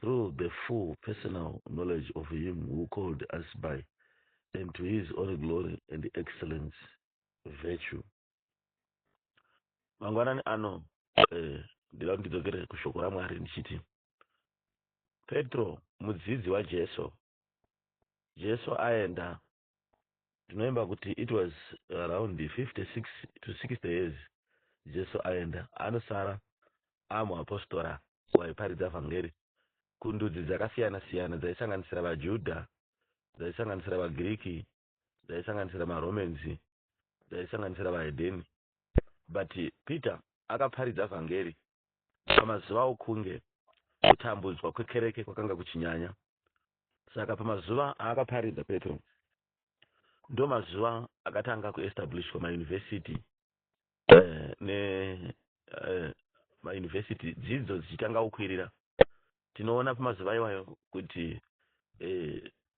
through the full personal knowledge of him who called us by and to his own glory and excellence virtue mangwanani ano eh, ndida kuti ndidzokere kushoko ramwari ndichiti petro mudzidzi wajesu jesu aenda tinoimba kuti it was around 56 to 60 years jesu aenda anosara amwe apostora waiparidza vhangeri kundudzi dzakasiyana siyana dzaisanganisira vajudha dzaisanganisira vagiriki dzaisanganisira maromans dzaisanganisira vahedheni but peter akaparidza vhangeri pamazuva okunge kutambudzwa kwekereke kwakanga kuchinyanya saka pamazuva aakaparidza petro ndo mazuva akatanga kuestablishwa mayunivhesiti eh, ne eh, mayunivhesiti dzidzo dzichitanga kukwirira tinoona pamazuva iwayo kuti eh,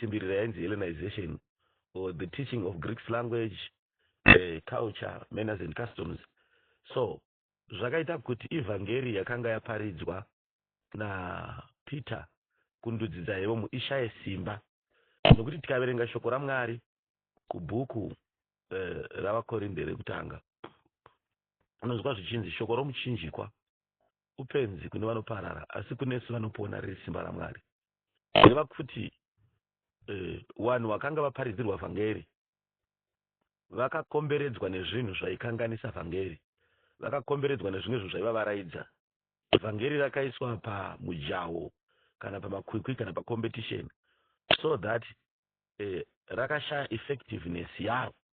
simbirira yainzi Hellenization or the teaching of Greek's language, uh, culture, manners and customs. So zvakaita kuti ivhangeri yakanga yaparidzwa napeter kundudzi dzaivo muishaye simba nokuti tikaverenga shoko ramwari kubhuku eh, ravakorinde rekutanga unonzwa zvichinzi shoko romuchinjikwa upenzi kune vanoparara asi kunesu vanopona riri simba ramwari kureva kuti eh, vanhu uh, vakanga vaparidzirwa vhangeri vakakomberedzwa nezvinhu zvaikanganisa vhangeri vakakomberedzwa nezvimwe zvinhu zvaivavaraidza vhangeri rakaiswa pamujawo kana pamakwikwi kana pacompetition so that eh, rakashaya effectiveness yaro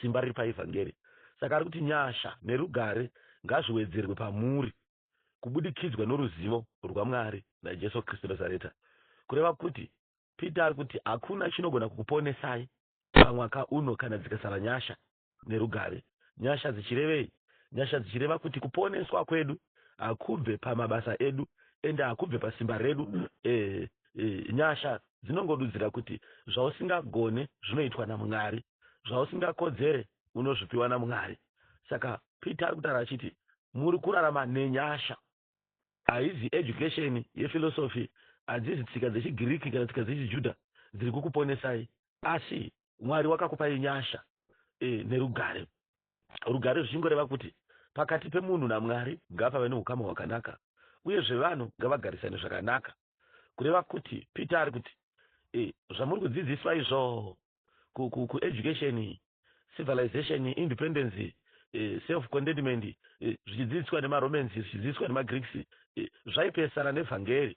simba riri paevhangeri. Saka ari kuti nyasha nerugare ngazviwedzerwe pamuri kubudikidzwa noruzivo rwaMwari naJesu Kristu Nazareta. Kureva kuti Peter ari kuti hakuna chinogona kukuponesai pamwaka uno kana dzikasava nyasha nerugare. Nyasha dzichirevei? Nyasha dzichireva kuti kuponeswa kwedu hakubve pamabasa edu ende hakubve pasimba redu. E, e, nyasha dzinongodudzira kuti zvausingagone zvinoitwa naMwari, zvausingakodzere unozvipiwa naMwari. Saka Peter ari kutaura achiti muri kurarama nenyasha. Haizi education yephilosophy, hadzisi tsika dzechiGiriki kana tsika dzechiJuda dziri kukuponesai, asi Mwari wakakupai nyasha e, nerugare. Rugare zvichingoreva kuti pakati pemunhu naMwari ngapave neukama hwakanaka uyezve vanhu ngavagarisane zvakanaka. Kureva kuti Peter ari kuti e, zvamuri kudzidziswa izvo kueducation, civilization, independence, e, self contentment e, zvichidzidziswa nemaRomans zvichidzidziswa nemaGreeks e, zvaipesana nevhangeri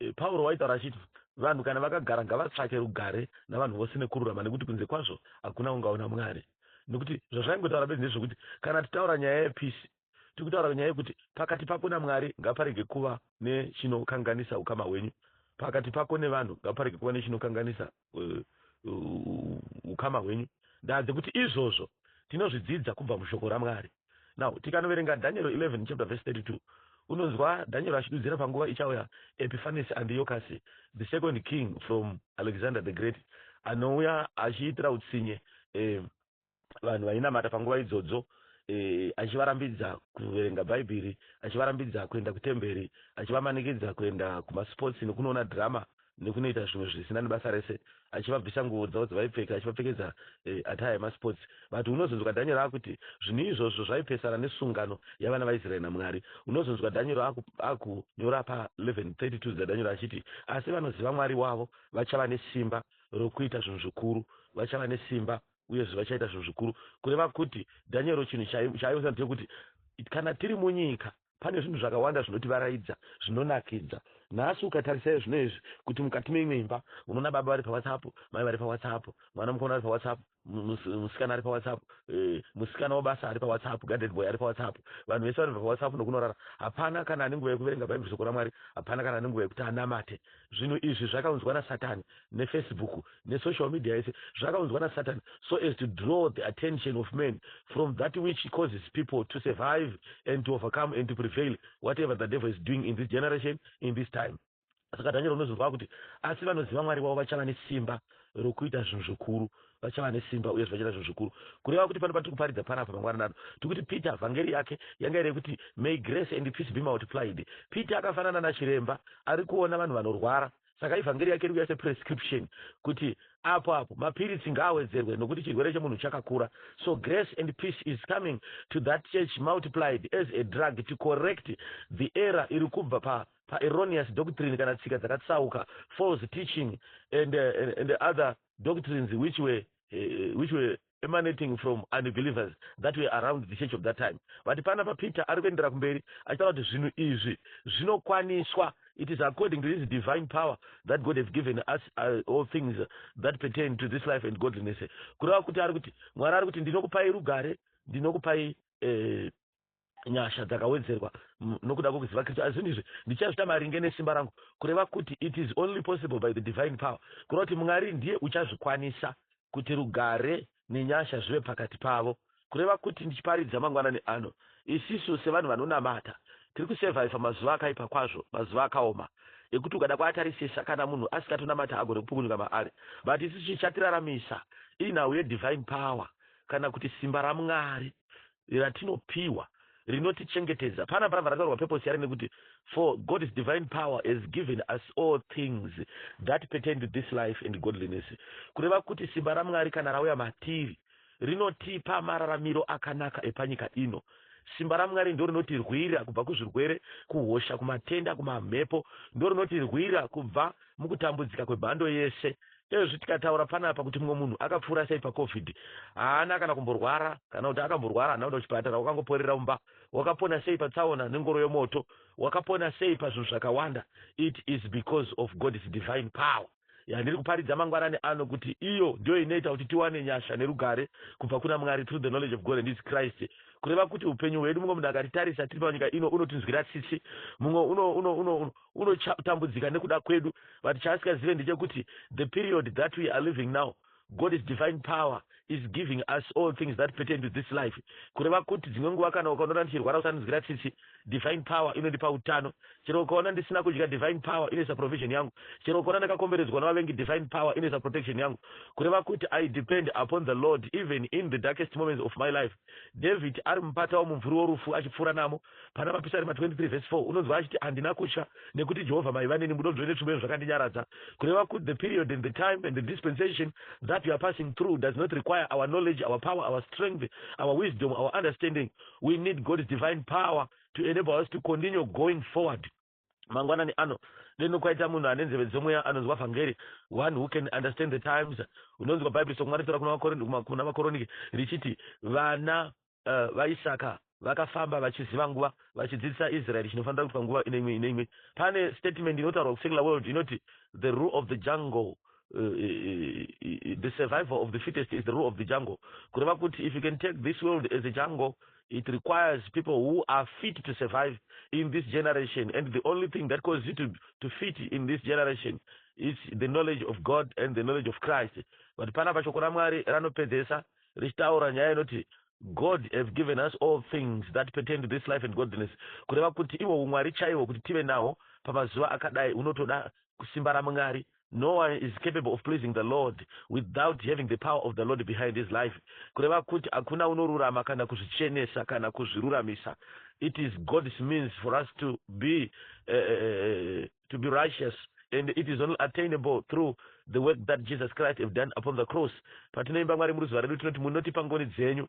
Eh, Pauro waitaura achiti, Vanhu kana vakagara ngavatsvake rugare navanhu vose nekururama, nekuti kunze kwazvo hakuna ungaona Mwari. Nekuti zvazvaingotaura bedzi ndezvekuti kana titaura nyaya yepisi, tiri kutaura nyaya yekuti pakati pako naMwari ngaparege kuva nechinokanganisa ukama hwenyu, pakati pako nevanhu ngaparege kuva nechinokanganisa ukama hwenyu ndaanze kuti izvozvo tinozvidzidza kubva mushoko ramwari now tikanoverenga daniero 11 chapter verse 32 unonzwa daniero achidudzira panguva ichauya epiphanes andiocasi the second king from alexander the great anouya achiitira utsinye eh, vanhu vainamata panguva idzodzo e, achivarambidza kuverenga bhaibheri achivarambidza kuenda kutemberi achivamanikidza kuenda kumasports nekunoona drama nekunoita zvimwe zvisina nebasa rese achivabvisa nguvo dzavo dzavaipfeka achivapfekedza e, eh, ataya yemasports but unozonzwa dhanyero akuti zvinhu izvozvo zvaipesana nesungano yavana vaisraeri namwari unozonzwa dhanyero akunyora pa 1132 dzadhanyero achiti asi vanoziva mwari wavo vachava nesimba rokuita zvinhu zvikuru, vachava nesimba, uyezve vachaita zvinhu zvikuru. Kureva kuti Dhanyero chinhu chaaionesa ndechekuti kana tiri munyika, pane zvinhu zvakawanda zvinotivaraidza, zvinonakidza. Nhasi ukatarisai zvinhu izvi, kuti mukati meimwe imba unoona baba vari paWhatsApp, mai vari paWhatsApp, mwana mukomana ari paWhatsApp, musikana ari pawhatsapp eh, musikana wabasa ari pawhatsapp gaded boy ari pawhatsapp vanhu vese vanobva pawhatsapp nokunorara hapana kana ane nguva yekuverenga bhaibheri soko ramwari hapana kana ane nguva yekuti anamate zvinhu izvi zvakaunzwa nasatani nefacebook nesocial media yese zvakaunzwa nasatani so as to draw the attention of men from that which causes people to survive and to overcome and to prevail whatever the devil is doing in this generation in this time Saka Dhanyero unonzwa kwakuti, Asi vanoziva Mwari wavo vachava nesimba rokuita zvinhu zvikuru, vachava nesimba uye zvachita zvinhu zvikuru. Kureva kuti pano patiri kuparidza panapa mangwanani ano, tiri kuti Peter, vhangeri yake yanga iri yekuti May grace and peace be multiplied. Peter akafanana nachiremba ari kuona vanhu vanorwara. Saka ivhangeri yake iri kuya seprescription kuti apo apo mapiritsi ngaawedzerwe nokuti chirwere chemunhu chakakura. So grace and peace is coming to that church multiplied as a drug to correct the error iri kubva pa pa erroneous doctrine kana tsika dzakatsauka, false teaching and, and, and other doctrines which were, uh, which were emanating from unbelievers that were around the church of that time. Vati pana pa Peter ari kuendera kumberi achitaura kuti zvinhu izvi zvinokwaniswa it is according to his divine power that god have given us uh, all things that pertain to this life and godliness kureva kuti ari kuti mwari ari kuti ndinokupai rugare ndinokupai eh, nyasha dzakawedzerwa nokuda kwokuziva Kristu. Asi zvinhu izvi ndichazvita maringe nesimba rangu, kureva kuti it is only possible by the divine power, kureva kuti Mwari ndiye uchazvikwanisa kuti rugare nenyasha zvive pakati pavo, kureva kuti ndichiparidza mangwanani ano, isisu sevanhu vanonamata tiri kusevhaivha mazuva akaipa kwazvo, mazuva akaoma ekuti ukada kuatarisisa kana munhu asikatonamata agone kupukunyuka maari, but isisu chichatiraramisa inhau yedivine power kana kuti simba raMwari ratinopiwa rinotichengetedza. Pana panapa rataurwa purpose yari nekuti for God's divine power has given us all things that pertain to this life and godliness. Kureva kuti simba raMwari kana rauya matiri rinotipa mararamiro akanaka epanyika ino. Simba raMwari ndo rinotirwira kubva kuzvirwere, kuhosha, kumatenda, kumamhepo. Ndo rinotirwira kubva mukutambudzika kwemhando yese Ezvi tikataura panapa kuti mumwe munhu akapfuura sei paCovid haana kana kumborwara kana kuti akamborwara haana kuenda kuchipatara wakangoporera mumba. Wakapona sei patsaona nengoro yomoto? Wakapona sei pazvinhu zvakawanda? It is because of God's divine power yandiri kuparidza mangwanani ano kuti iyo ndiyo inoita kuti tiwane nyasha nerugare kubva kuna Mwari through the knowledge of God and his Christ. Kureva kuti upenyu hwedu mumwe munhu akatitarisa tiri panyika ino unotinzwira tsitsi. Mumwe uno, uno, uno, uno, unotambudzika nekuda kwedu but chaasingazive ndechekuti the period that we are living now God is divine power is giving us all things that pertain to this life kureva kuti dzimwe nguva kana ukaonora ndichirwara usanonzwira tsitsi divine power inondipa utano chero ukaona ndisina kudya divine power inoisa provision yangu chero ukaona ndakakomberedzwa navavengi divine power inoisa protection yangu kureva kuti i depend upon the lord even in the darkest moments of my life david ari mupata womumvuri worufu achipfuura namo Pana Mapisarema 23 vhesi 4 unonzwa achiti, Handina kutya, nekuti Jehovha maiva neni, mudonzvo netsvimbo yenyu zvakandinyaradza. Kureva kut the period and the time and the dispensation that we are passing through does not require our knowledge, our power, our strength, our wisdom, our understanding. We need God's divine power to enable us to continue going forward. Mangwanani ano, deno kwaita munhu ane nzeve dzomweya anonzwa vhangeri, one who can understand the times. Unonzwa Bhaibheri soko maritaura kuna vaKorinti, kuma, kuna vaKoronike, richiti, Vana uh, vaIsaka vakafamba vachiziva nguva, vachidzidzisa Israeri chinofanira kuitwa nguva ine imwe ine imwe. Pane statement inotaurwa kuSecular World inoti, The rule of the jungle Uh, uh, uh, the survival of the fittest is the rule of the jungle kureva kuti if you can take this world as a jungle it requires people who are fit to survive in this generation and the only thing that causes you to, to fit in this generation is the knowledge of god and the knowledge of christ but panapa shoko ramwari ranopedzesa richitaura nyaya inoti god have given us all things that pertain to this life and godliness kureva kuti ivo umwari chaivo kuti tive nawo pamazuva akadai unotoda kusimba ramwari No one is capable of pleasing the Lord without having the power of the Lord behind his life. Kureva kuti hakuna unorurama kana kuzvichenesa kana kuzviruramisa. It is God's means for us to be, uh, uh, to be righteous and it is only attainable through the work that Jesus Christ have done upon the cross. Patinoimba Mwari muruziva redu tinoti munotipa ngoni dzenyu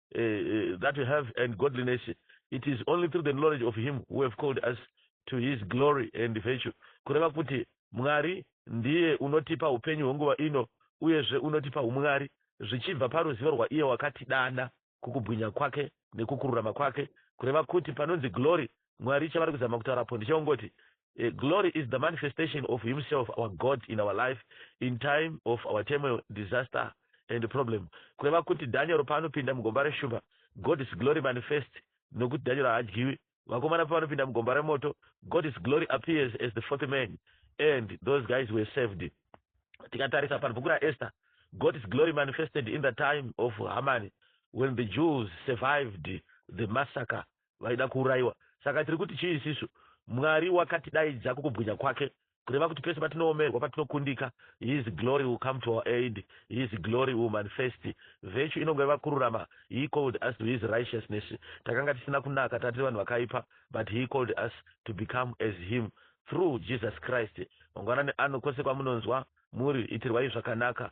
uh, that we have and godliness it is only through the knowledge of him who have called us to his glory and virtue kureva kuti mwari ndiye unotipa upenyu hwenguva ino uyezve unotipa umwari zvichibva paruzivo rwaiye wakatidana kukubwinya kwake nekukururama kwake kureva kuti panonzi glory Mwari chavari kuzama kutaura apo ndechekungoti eh, glory is the manifestation of himself our God in our life in time of our turmoil, disaster and problem. Kureva kuti Daniel paanopinda mugomba reshumba, God is glory manifest nokuti Daniel haadyiwi. Vakomana pavanopinda mugomba remoto, God is glory appears as the fourth man and those guys were saved. Tikatarisa panobhuku raEsther, God is glory manifested in the time of Haman when the Jews survived the massacre vaida kuurayiwa. Saka tiri kuti chii isisu? Mwari wakatidaidza kukubwinya kwake, kureva kuti pese patinoomerwa, patinokundika, His glory will come to our aid, His glory will manifest. Virtue inongoreva kururama, He called us to His righteousness. Takanga tisina kunaka, tanga tiri vanhu vakaipa, but He called us to become as Him through Jesus Christ. Mangwanani ano, kwose kwamunonzwa muri, itirwai zvakanaka.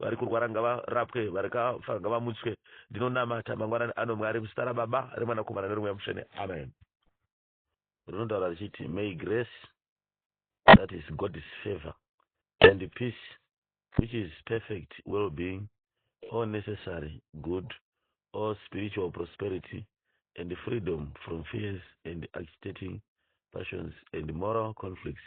Varikurwara ngavarapwe varikafa ngavamutswe ndinonamata mangwanani ano Mwari muzita rababa remwanakomana neremweya mutsvene amen. Rinotaura richiti may grace that is God's favor and peace which is perfect well being all necessary good all spiritual prosperity and freedom from fears and agitating passions and moral conflicts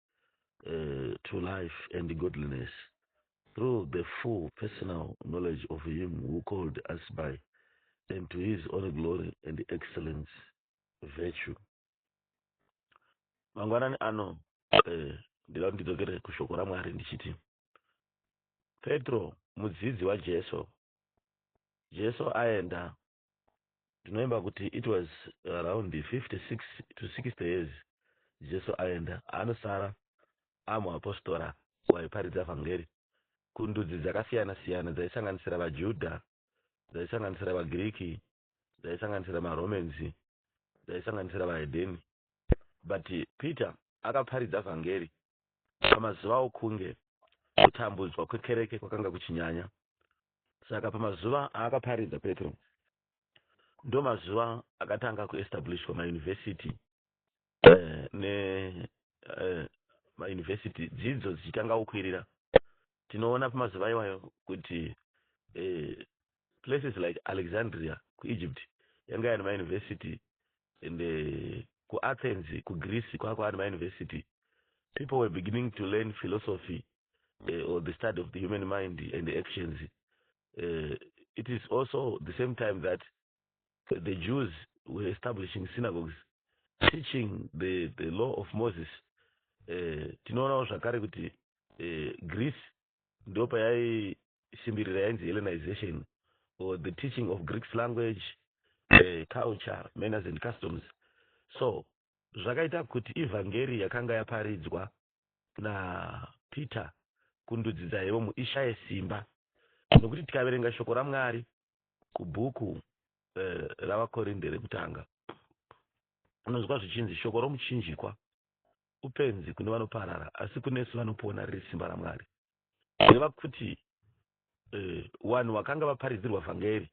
uh, to life and godliness through the full personal knowledge of him who called us by and to his own glory and excellence virtue mangwanani ano eh, ndida kuti ndidzokere kushoko ramwari ndichiti petro mudzidzi wajesu jesu aenda tinovimba kuti it was around 56 to 60 years jesu aenda anosara amwe apostora waiparidza vhangeri kundudzi dzakasiyana siyana dzaisanganisira vajudha dzaisanganisira vagiriki dzaisanganisira maromans dzaisanganisira vahedeni but peter akaparidza vhangeri pamazuva okunge kutambudzwa kwekereke kwakanga kuchinyanya Saka pamazuva aakaparidza Petro ndomazuva akatanga kuestablishwa mauniversity eh, ne eh, mauniversity dzidzo dzichitanga kukwirira tinoona pamazuva iwayo kuti eh, places like alexandria kuegypt yanga yani mauniversity and uh, kuathens kugreece kwakwa ani mauniversity people were beginning to learn philosophy uh, or the study of the human mind and the actions, uh, it is also the same time that the Jews were establishing synagogues, teaching the, the law of Moses. Uh, tinoonawo zvakare kuti uh, Greece ndo payaisimbirira yainzi Hellenization or the teaching of Greek language, uh, culture, manners and customs. So zvakaita kuti evhangeri yakanga yaparidzwa na Peter kundudzi dzaivo mu ishaye simba nokuti tikaverenga shoko ramwari kubhuku uh, eh, ravakorinde rekutanga unonzwa zvichinzi shoko romuchinjikwa upenzi kune vanoparara asi kunesu vanopona riri simba ramwari reva kuti eh, vanhu uh, vakanga vaparidzirwa vhangeri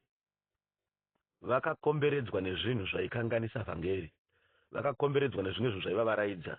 vakakomberedzwa nezvinhu zvaikanganisa vhangeri vakakomberedzwa nezvimwe zvinhu zvaivavaraidza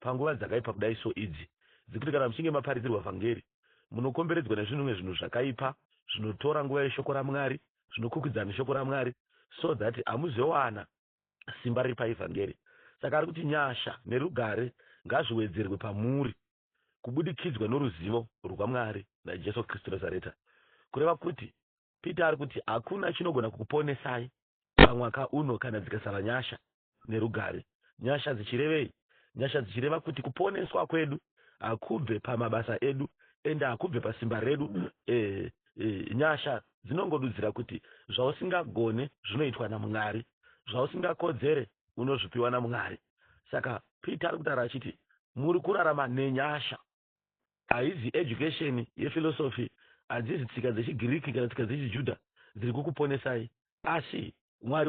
Panguva dzakaipa kudai so idzi dzekuti kana muchinge maparidzirwa vhangeri munokomberedzwa nezvinhumwe zvinhu zvakaipa zvinotora nguva yeshoko raMwari, zvinokwikwidzana neshoko raMwari so that hamuzowana simba riri paevhangeri. Saka ari kuti nyasha nerugare ngazviwedzerwe pamuri kubudikidzwa noruzivo rwaMwari naJesu Kristu Nazareta, kureva kuti Peter ari kuti hakuna chinogona kukuponesai pamwaka uno kana dzikasara nyasha nerugare. Nyasha dzichirevei? Nyasha dzichireva kuti kuponeswa kwedu hakubve pamabasa edu ende hakubve pasimba redu. E, e, nyasha dzinongodudzira kuti zvausingagone zvinoitwa naMwari, zvausingakodzere unozvipiwa naMwari. Saka Peter ari kutaura achiti muri kurarama nenyasha. Haizi education yephilosophy, hadzisi tsika dzechiGiriki kana tsika dzechiJuda dziri kukuponesai, asi Mwari.